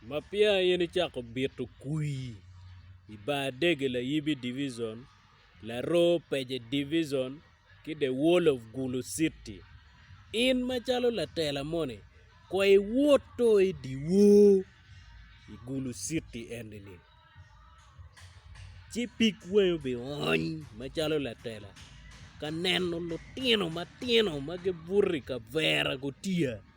Ma peya in icako bito kwi i bar dege layibi divison, laroo pece divison ki the world of gulu city in macalo latela moni kong iwotto i dyewor i gulu city eni ni ci pig wangi obiony macalo latela ka neno lutino matino ma gibuto i kavera gutiya.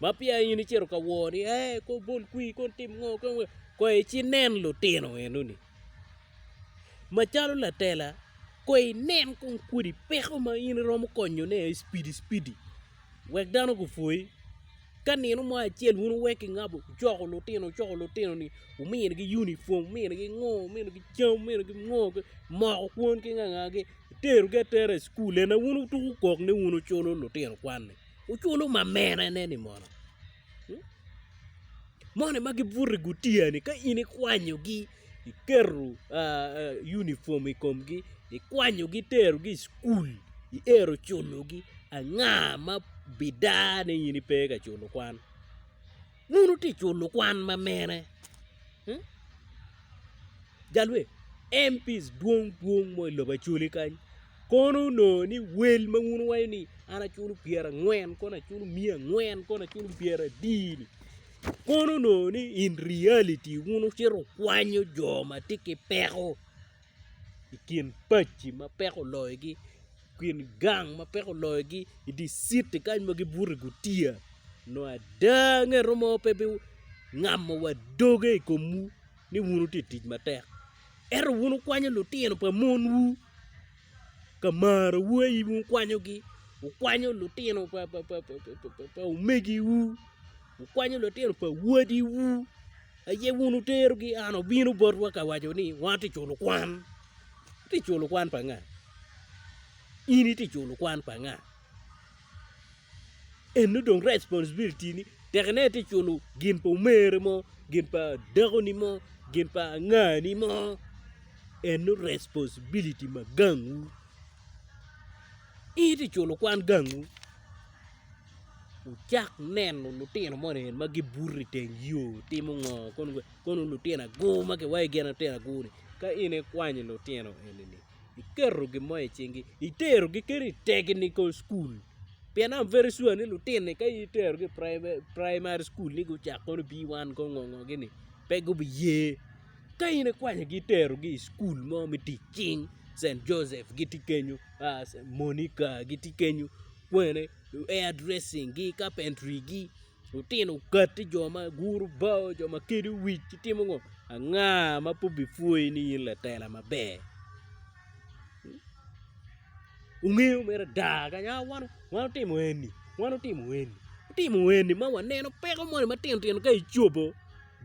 ma peya in icito ka wor ni ee ko bol kwi ko tim ngo ko ngo ko ici nen lutino eno ni macalo latela ko inen kong kodi peko ma in iromo konyo ne aye cipidi cipidi wek dano gupwoyi ka nino mo acel wun wuwek ki ngabo wucoko lutino wucoko lutino ni wumini gi unifom wumini gi ngo wumini gi cam wumini gi ngo moko kwon ki nga nga gi wuterogi atera i cukul ena wun wutuku kok ni wun wuculo lutino kwan-ni Wuculo mamerene-ni mono? Moni ma gibuto i gutiya-ni ka in ikwanyogi iketo unifom i komgi ikwanyogi iterogi i cukul iero culogi anga ma bidar ni in ipe ka culo kwan? Wun wutic wun lukwan ma mene? Jalwe MPs dwong dwong mo i lobo Acholi kany kono onongo ni wel ma wun wuwaco ni an aculo pyerangwen kono aculo miya angwen kono aculo pyera adii ni kono onongo ni in reality wun wucito wukwanyo jo ma tye ki peko. i kin pacci ma peko oloyogi i kin gang ma peko oloyogi i dye citi kany ma gibuto i gutiya nongo ada ngeto mo pe bingamo wa doge i komwu ni wun wutye ka tic matek ento wun wukwanyo lutino pa monwu ka marowu aye in wukwanyogi wukwanyo lutino pa omegiwu. Wukwanyo lutino pa wadiwu, aye wun wuterogi i an, wubino botwa ka waco ni, 'Wan watye ka culo kwan. Itye ka culo kwan pa nga? In itye ka culo kwan pa nga? Eno dong responsibility-ni, tekne itye ka culo gin pa omere mo, gin pa dakoni mo, gin pa angani mo. Eno responsibility ma gangwu. In itye ka culo kwan gangwu. Wucak neno lutino moni ma gibuto i teng yo gitimo ngo kono lutino agur ma kiwaci gin lutino agur ni ka in ikwanyo lutino enini iketo gin mo i cingi iterogi kadi i tekinico cukul pien am very sure ni lutini ka in iterogi i primary cukul ni gucak kono B one ko ngo ngo gini pe gubiye ka in ikwanyogi iterogi i cukul mo me tic cing St Joseph gitye kenyo Monica gitye kenyo kwene air dressing gi carpentry gi lutino okati jo ma guru bao jo ma kedo wic ki timo ngo anga ma pe obipwoyi ni in latela maber wungeyo mere ada kanya a wan watimo eni wan watimo eni watimo eni ma waneno peko moni matino tino ka icobo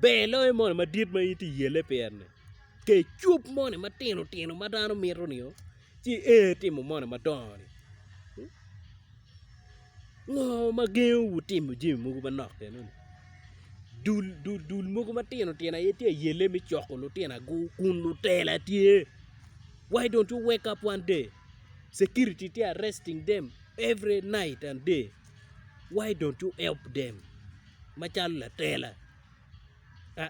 ber loyo moni madit ma in itye ka yele pire-ni. Ket cwub moni matino tino ma dano mito ni o ci i timo moni madongo ni ngo ma gengo wu timo jami mogo manok kene ni dul dul dul mogo matino tino aye tye ayelle me coko lutino agur kun lutela tye why don't you wake up one day security tye arresting them every night and day why don't you help them macalo latela aa.